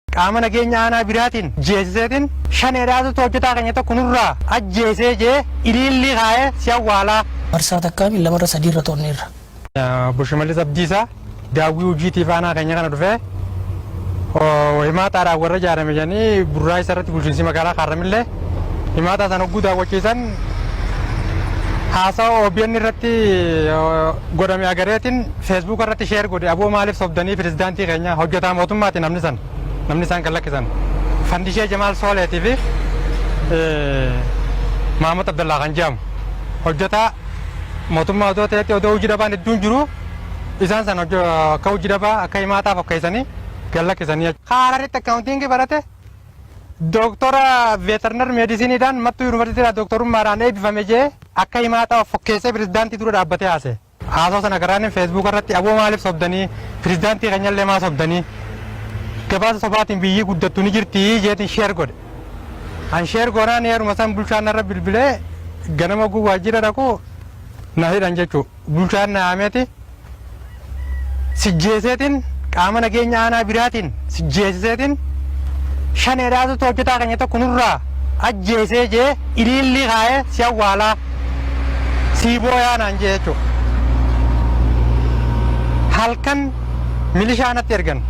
Qaama nageenya aanaa biraatiin jeesiseetiin shaneedhaatutu hojjetaa keenya tokko nurraa ajjeesee jee iliillii kaa'ee si awwaalaa. Marsaa takkaa miti lamarra sadiirra to'anneerra. Obbo Shimallis Abdiisaa daawwii hojiitiif aanaa keenya kana dhufee himaataadhaan warra ijaarame jedhanii burraa isa irratti bulchiinsi magaalaa Kaarramillee himaataa sana hogguu daawwachiisan haasawa OBN irratti godhame agareetin feesbuuka irratti sheer godhe aboo maaliif sobdanii pirezidaantii keenya hojjetaa mootummaati namni san namni isaan kan lakkisan fandishee jamaal sooleetii fi maamad abdallaa kan jedhamu hojjetaa mootummaa odoo ta'etti odoo hojii dhabaan hedduun jiru isaan san akka hojii dhabaa akka himaataa fakkeessanii kan lakkisanii. Haararitti akkaawuntiingii barate Dooktora Veterinar Meedisiiniidhaan Mattuu Yuunivarsiitiidhaa Dooktorummaadhaan eebbifame jee akka himaataa of fokkeessee pirezidaantii dura dhaabbatee haasa'e. Haasoo sana garaanin Feesbuuka irratti abo maaliif sobdanii pirezidaantii keenyallee maa sobdanii gabaasa sobaatiin biyyii guddattu ni jirtii jeetiin sheer godhe. An sheer goonaan yeruma san bulchaan narra bilbilee ganama oguu waajjira dhaqu na hidhan jechuu. Bulchaan na yaameti sijjeeseetiin qaama nageenya aanaa biraatiin sijjeesiseetiin shaneedhaatu hojjetaa keenya tokko nurraa ajjeesee jee iliillii kaa'ee si awwaalaa sii booyaa naan jee jechuudha. Halkan milishaa natti ergan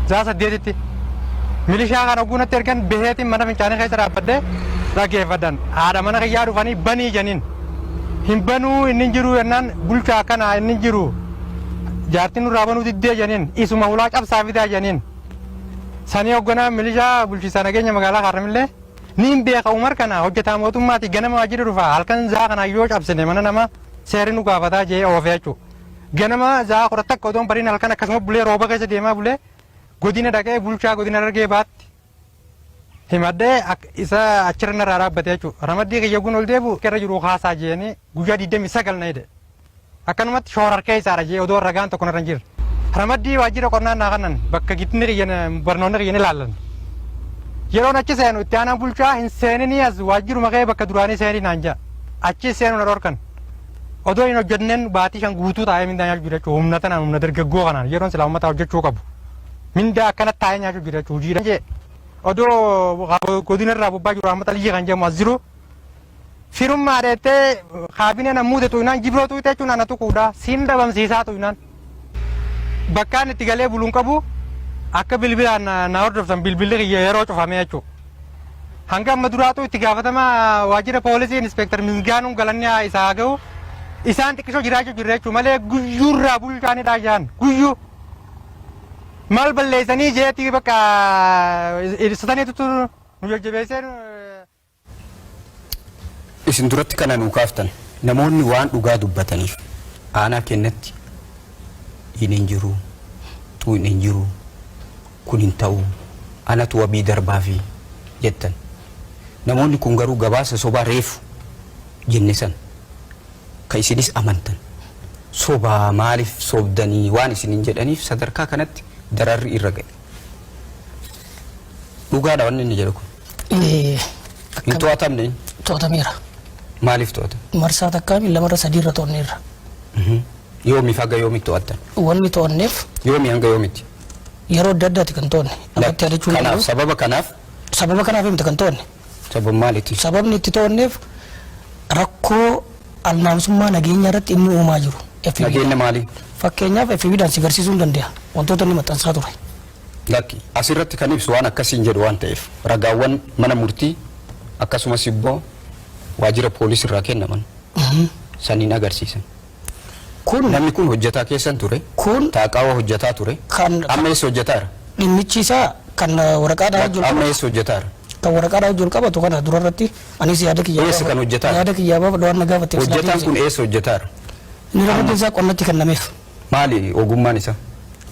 zaa saddeetitti milishaa kana oguu natti ergan baheetiin mana fincaanii keessa dhaabbadhee dhaggeeffadhan haadha mana kiyyaa dhufanii banii janiin. Hin banuu inni hin jiruu jennaan bulchaa akkanaa inni hin jiru jaartiin nurraa banuu diddee janiin isuma hulaa cabsaa fidaa janiin sanii hoogganaa milishaa bulchiisaa nageenya magaalaa Haarramillee ni hin beeka Umar kana hojjetaa mootummaati ganama waajjira dhufa halkan zaa kana yoo cabsine mana nama seerri nu gaafataa jee oofee jechuu ganama zaa kudha takka odoon bariin halkan akkasuma bulee rooba keessa deemaa bulee godina dhaqee bulchaa godina dargee baatti himadhee ak- isa achirra narraa dhaabbate jechuudha. Ramaddii kiyya gun ol deebi'u irra jiru haasaa jeeni guyyaa 29 na hidhe. Akkanumatti shoorar keessaadha jee odoo ragaan tokko narra hin jirre. Ramaddii waajjira qonnaa naa kannan bakka gitni kiyya na- barnoonni kiyya ni laallan. Yeroon achi seenu itti aanaan bulchaa hin seeninii as waajjiruma kee bakka duraanii seenii naan jaa. Achi seenu na dhorkan. Odoo hin hojjenneen baatii shan guutuu taa'ee mindaan jechuu jechuudha. Humna tanaan humna dargaggoo kanaan yeroon silaa uummataa hojjechuu qabu. Mindaa akkanatti taa'ee nyaachuu jira jechuudha. Hojiidha jee odoo godina irraa bobbaa jiru Ahmad Aliyyii kan jedhamu as jiru firummaa dheettee kaabinee nan muude tuynaan jibroo tuyte jechuun ana tuquudha. Siin dhabamsiisaa tuynaan. Bakkaan itti galee buluun qabu akka bilbilaan na hordoftan bilbilli kiyya yeroo cufamee jechuudha. Hanga amma duraatu itti gaafatama waajjira poolisii inspektar Misgaanuun galanni isaa haa ga'u. Isaan xiqqisoo jiraachuu jirra jechuudha malee guyyuurraa bulchaanidha jaan guyyuu. Maal balleessanii jeetii bakka ibsataniitu nu jajjabeessee. Isin duratti kana nuu kaaftan namoonni waan dhugaa dubbataniif aanaa kennatti hin hin jiru tuu hin hin jiru kun hin ta'u anatu wabii darbaa fi jettan namoonni kun garuu gabaasa sobaa reefu jenne san Ka isinis amantan sobaa maalif sobdanii waan isinin jedhaniif sadarkaa kanatti dararri irra ga'e. Dhugaadha wanni inni jedhu kun. Ee, Hin akka to'atamne inni. to'atameera. Maaliif to'atame? Marsaa takkaa fi lamarra sadiirra to'anneerra. Yoomiif haga yoomitti to'attan? Wanni to'anneef Yoomii hanga yoomitti? yeroo adda addaati kan to'anne. Ammatti yaadachuun Kanaaf danda'u. sababa kanaaf Sababa kanaaf himte kan to'anne. Sabab maaliitiif? Sababni itti to'anneef rakkoo alnaawusummaa nageenyaa irratti inni uumaa jiru FB dha. Nageenya maalii? Fakkeenyaaf FB dhaan si garsiisuu hin dandeeha wantoota inni maxxansaa ture. Lakki. As irratti kan ibsu waan akkasii hin jedhu waan ta'eef ragaawwan mana murtii akkasumas ibboo waajjira poolis irraa kennaman saniin agarsiisan. Kun namni kun hojjataa keessan ture. Kun. Taaqaawaa hojjataa ture. Kan. Amma eessa hojjataara? Dhimmichi isaa kan waraqaadhaa wajji wal qabatu. Amma eessa hojjataara? Kan waraqaadhaa wajji wal qabatu kana dura irratti anis yaada kiyyaa. Eessa kan hojjataara? Yaada kiyyaa baaf waan na gaafatteef. Hojjataan kun eessa hojjataara? Inni ramaddiin isaa qonnatti kennameef. Maali ogummaan isaa?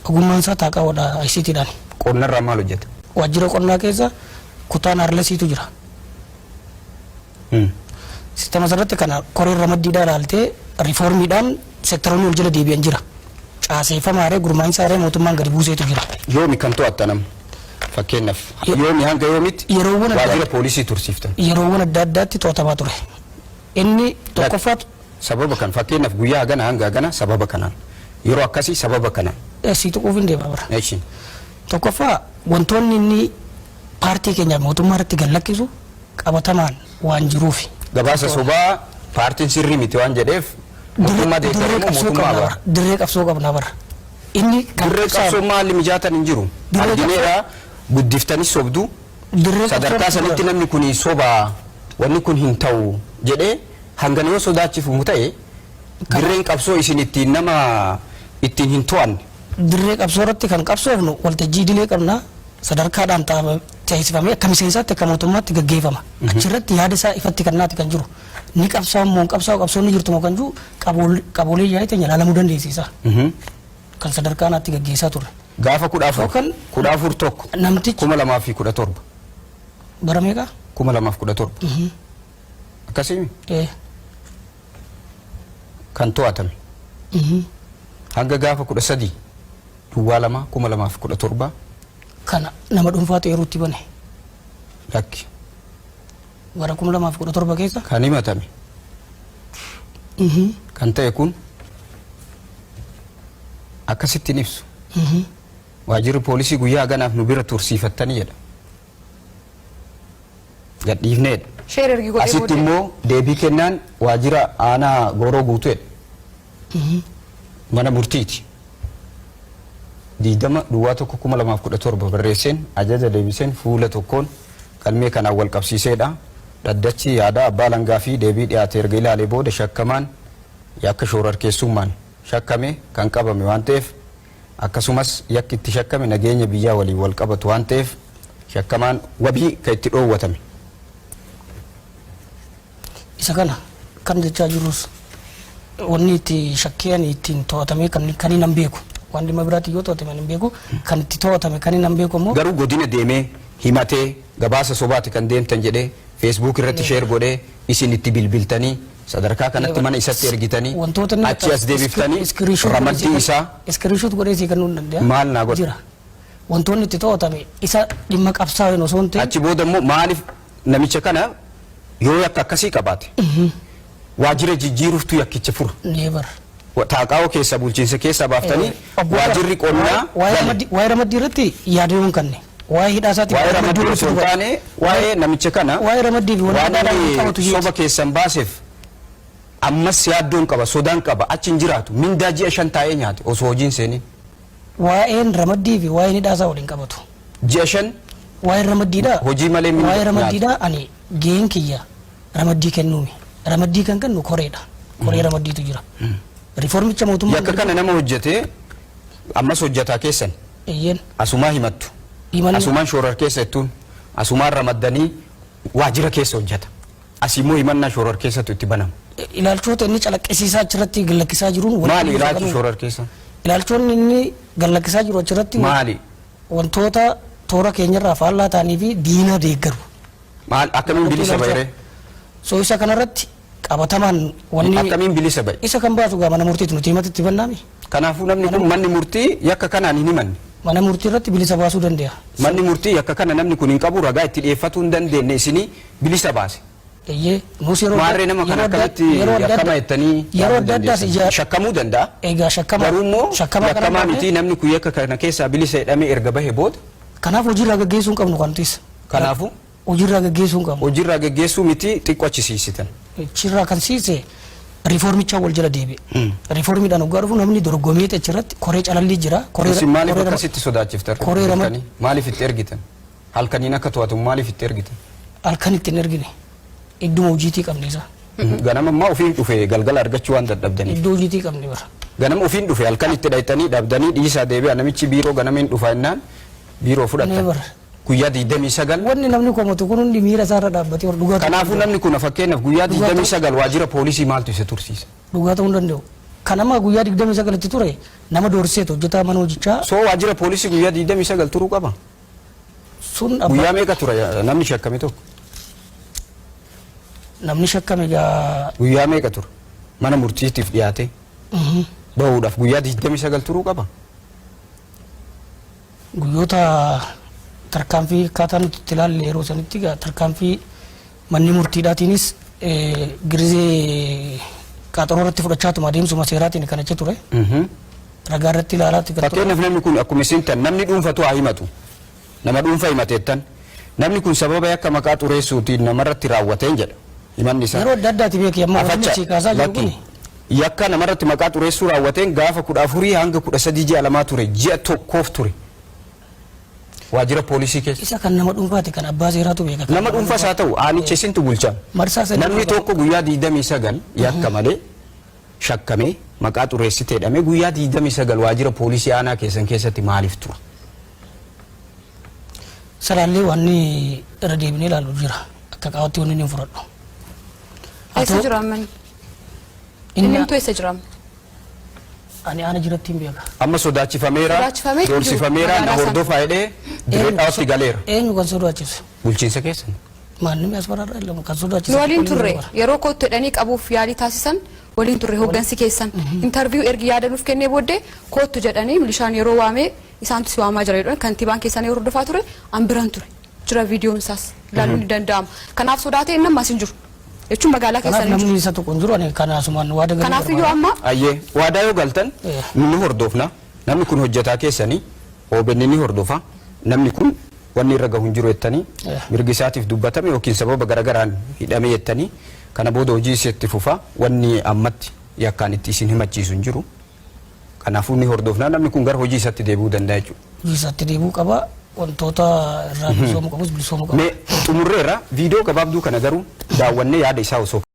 Ogummaan isaa taaqaawadha ICT dhaan. Qonnarraa maal hojjata? Waajjira qonnaa keessa kutaan arlasiitu jira. Sistema sanarratti kana koreen ramaddiidhaa ilaaltee riifoormiidhaan sektaroonni wal jala deebi'an jira. Caaseeffamaaree gurmaa'insaaree mootummaan gadi buuseetu jira. Yoomi kan to'attan amma? Fakkeenyaaf Ye- yoomi hanga yoomitti Yeroowwan adda- waajjira poolisii tursiiftan? Yeroowwan adda addaatti to'atamaa ture. Inni tokkoffaa Sababa kan fakkeenyaaf guyyaa hagana hanga hagana sababa kanaan yeroo akkasii sababa kanaan. sii tuquuf hin deema bara. Eeshi. Tokkoffaa wantoonni inni paartii keenyaaf mootummaa irratti gad lakkisu qabatamaan waan jiruufi. Gabaasa sobaa paartiin sirrii miti waan jedheef mootummaa deeggaru moo mootummaa abara? Dirree qabsoo qabna bara. Inni kan Dirree qabsoo qabsaa'u maalli mijaatan hin jiru. Dirree Argineedha guddiftanis sobdu. dirree Sadarkaa qabsoo sanitti namni kun sobaa wanni kun hin ta'u jedhee hanga nama sodaachifamu ta'e dirreen qabsoo isin ittiin nama ittiin hin to'anne. dirree qabsoo irratti kan qabsoofnu waltajjii idilee qabna. sadarkaadhaan ta- ceesifamee akka miseensaatti akka mootummaatti gaggeeffama. Achirratti yaada isaa ifatti kennaati kan jiru. Ni qabsaa'u moo hin qabsaa'u qabsoon ni jirtu moo kan jiru qabool- qaboolee yaa'ii teenya ilaalamuu dandeessisa. Mhm. Kan sadarkaa naatti gaggeessaa turre. Gaafa kudha afur Yookaan- kudha afur tokko Namtichi- kuma lamaa fi kudha torba Bara meeqa? kuma lamaaf kudha torba akkasiin Eh, kan to'atame hanga gaafa 13 Duwwaa 2 2017 Kana nama dhuunfaatu eeruutti bane. lakki Bara 2017 keessa kan himatame kan ta'e kun akkasittiin ibsu waajirri poolisii guyyaa haganaaf nu bira tursiifattanii jedha. gadhiifneedha. Sheer ergi godhee Asitti booddee. immoo deebii kennaan waajjira aanaa gooroo guutuedha. Mana murtiiti. Diidama duwwaa tokko kuma lamaaf kudha torba barreesseen ajaja deebiseen fuula tokkoon galmee kanaan wal qabsiiseedha. Dhaddachi yaadaa abbaa alangaa fi deebii dhiyaate erga ilaalee booda shakkamaan yakka shoorarkeessummaan shakkame kan qabame waan ta'eef akkasumas yakki itti shakkame nageenya biyyaa waliin wal qabatu waan ta'eef shakkamaan wabii kan itti dhoowwatame. Isa kana kan jechaa jirrus wanni itti shakkii ani ittiin to'atamee kan kan hin beeku waan dhimma biraatiin yoo to'atame ani hin beeku kan itti to'atame kan hin beeku immoo Garuu godina deemee himatee gabaasa sobaati kan deemtan jedhee feesbuuk irratti sheer godhee isin itti bilbiltanii Sadarkaa kanatti mana isatti ergitanii Wantoota inni achi as deebiftanii iskiriishoot godhee ramaddii sii kan- isaa iskiriishoot godhee sii kennuu hin danda'a. Maal naa godha? Jira. Wantoonni itti to'atame isa dhimma qabsaa'een osoo hin ta'in achi booda immoo maaliif namicha kana yoo yakka akkasii qabaate waajjira jijjiiruuftu yakkicha fura. neebar. Taaqaawoo keessaa bulchiinsa keessaa baaftanii Obbo Abbaa, waajirri waa'ee- qonnaa waa'ee bane. ramaddii- waa'ee ramaddii irratti yaadadoon kanne waa'ee hidhaa isaatiif Waa'ee ramaddii ramaddii osoo hin irratti taane dubbadha. waa'ee namicha kana waa'ee ramaddii fi waan waan adda addaa inni wal qabatu soba jeeti. keessan baaseef ammas yaaddoon qaba sodaan qaba achi hin jiraatu mindaa ji'a shan taa'ee nyaate osoo hojiin seenin Waa'een ramaddii fi waa'een hidhaa isaa waliin qabatu. ji'a shan Waa'een ramaddiidhaa. hojii malee mindaa Waa'ee nyaate. ramaddiidhaa ani gaheen kiyya Ramaddii kennuumi. Ramaddii kan kennu koreedha. Koree ramaddiitu jira. Riifoormicha mootummaan Yakka kana nama hojjetee ammas hojjetaa keessan Eeyyeen. asumaa himattu. Himanna. Asumaan shoorar keessa jettuun asumaan ramaddanii waajjira keessa hojjeta. Asii immoo himannaa shoorar keessatu itti banama. Ilaalchoota inni calaqqisiisaa achirratti gallakkisaa jiruun walitti Maali ilaalchi fagaluu. shoorar keessa? Ilaalchoonni inni gallakkisaa jiru achirratti Maali? wantoota toora keenyarraa faallaa ta'anii fi diina deeggaru. Maal akkamiin Maaltu bilisa ilaalcha? bahiree? So isa kanarratti qabatamaan wanni Akkamiin bilisa bahe? isa kan baatu gaa mana murtiitti nuti himatti itti bannaami. Kanaafuu namni kun manni murtii yakka kanaan hin himanne. Mana murtii irratti bilisa baasuu danda'a. Manni murtii yakka kana namni kun hin qabu ragaa itti dhiyeeffatuu hin dandeenye isinii bilisa baase. Eeyyee nuus yeroo Maarree nama kana yeroo adda- akkamitti yeroo adda- yakkama jettanii yeroo yaaduu adda addaas dandeessan? ija Shakkamuu danda'a. egaa shakkama Garuu immoo shakkama kana yakkamaa baatee- miti namni kun yakka kana keessaa bilisa jedhamee erga bahe booda Kanaaf hojiirraa gaggeessuu hin qabnu kan nutis. Kanaafuu. Hojiirraa geggeessuu hin qabnu. Hojiirraa geggeessuu miti xiqqoo achi siisitan. Achirraa kan siise riifoormichaan wal jala deebi'e. Riifoormiidhaan hoggaa dhufu namni dorgomeeti achirratti koree calallii jira. Koree Isin maaliif koree rama- akkasitti sodaachiftan? koree rama- Halkanii? Maaliif itti ergitan? Halkaniin akka to'atu maaliif itti ergitan? halkan itti hin ergine. Idduma hojiitii qabne isaa. Ganama ammaa ofiin dhufe galgala argachuu waan dadhabdaniif. Iddoo hojiitii qabne bara. Ganama ofiin dhufe halkan itti dhaytanii dhabdanii dhiisaa deebi'a namichi biiroo ganama hin dhufa innaan biiroo fudhatan. Never. guyyaa 29. Wanni namni komatu kun hundi miira isaa irra dhaabbatee ol dhugaa ta'uu hin Kanaafuu danda'u. namni kun fakkeenyaaf guyyaa Dhugaa ta'uu- 29 waajjira poolisii maaltu isa tursiise? Dhugaa ta'uu hin danda'u. Kan amma guyyaa 29 itti ture nama doorsiseeti hojjetaa mana hojichaa Soo waajjira poolisii guyyaa 29 turuu qaba? sun abba- Guyyaa meeqa tura eh, namni shakkame tokko? namni shakkame egaa Guyyaa meeqa tura? Mana murtiitiif dhiyaatee bahuudhaaf guyyaa 29 turuu qaba? Guyyoota tarkaanfii akkaataa nuti itti ilaalle yeroo sanitti egaa tarkaanfii manni murtiidhaatiinis eh, girizee qaaxaroo irratti fudhachaatuma adeemsuma seeraatiin kan achi ture. Ragaa irratti ilaalaatti kan ture. Fakkeenyaaf namni kun akkuma isin tan namni dhuunfatu haa himatu. Nama dhuunfa himateettan. Namni kun sababa yakka maqaa xureessuutiin namarratti raawwateen jedha. Himanni isaa. Yeroo adda addaati beekee amma wanni Afacha, si kaasaa jiru lakkii. kun Yakka namarratti maqaa xureessuu raawwateen gaafa 14 hanga 13 ji'a lamaa ture, ji'a tokkoof ture waajjira poolisii keessa. Isa kan nama dhuunfaati kan abbaa seeraatu beeka. Kan Nama dhuunfas haa ta'u aanicha isintu bulcha. Marsaa sadii Namni dura- tokko guyyaa 29 yakka malee shakkamee maqaa xureessite jedhamee guyyaa 29 waajjira poolisii aanaa keessan keessatti maaliif tura? Salaallee waan irra deebinee ilaalu jira. Akka qaawatti wanni inni hin fudhadhu. Haa Eessa ta'u- jiru amma inni? Inni Inni hunduu eessa jira? ani aana jiratti hin beeka. Amma sodaachifameera, Sodaachifamee hin jiru. doorsifameera, na Magaalaa sana. hordofaa jedhee Dirree Dhawaatti galeera. Eenyu kan sodaachise? Bulchiinsa keessan. Maannimni as bararra hin lamu kan sodaachise. Nu waliin xiqqoo turre illee bara. yeroo kootti jedhanii qabuuf yaalii taasisan waliin turre hooggansi keessan intarviyu ergi yaada nuuf kennee booddee koottu jedhanii milishaan yeroo waamee isaantu si waamaa jira jedhan kantiibaan keessan yeroo hordofaa ture an biran ture. jira viidiyoon isaas ilaaluun ni danda'ama. Kanaaf sodaatee inni ammas hin jiru. Jechuun magaalaa Kanaaf keessan hin jiru. namni isa tuqu hin jiru ani kan asumaan waada galuu Kanaaf iyyuu barbaada. amma Ayyee waadaa yoo galtan Eh. ni hordofna namni kun hojjetaa keessanii OBN ni hordofa namni kun wanni irra gahu hin jiru jettanii Eh. mirgi isaatiif dubbatame yookiin sababa garagaraan hidhame jettanii kana booda hojii isheetti fufa wanni ammatti yakkaan itti isin himachiisu hin jiru. Kanaafuu ni hordofna. Namni kun gara hojii isaatti deebi'uu danda'a jechuudha. Hojii isaatti deebi'uu qaba. Wantoota irraa bilisoomuu qabus bilisoomuu qaba. Mee xumurreerra viidiyoo gabaabduu kana garuu daawwannee yaada isaa osoo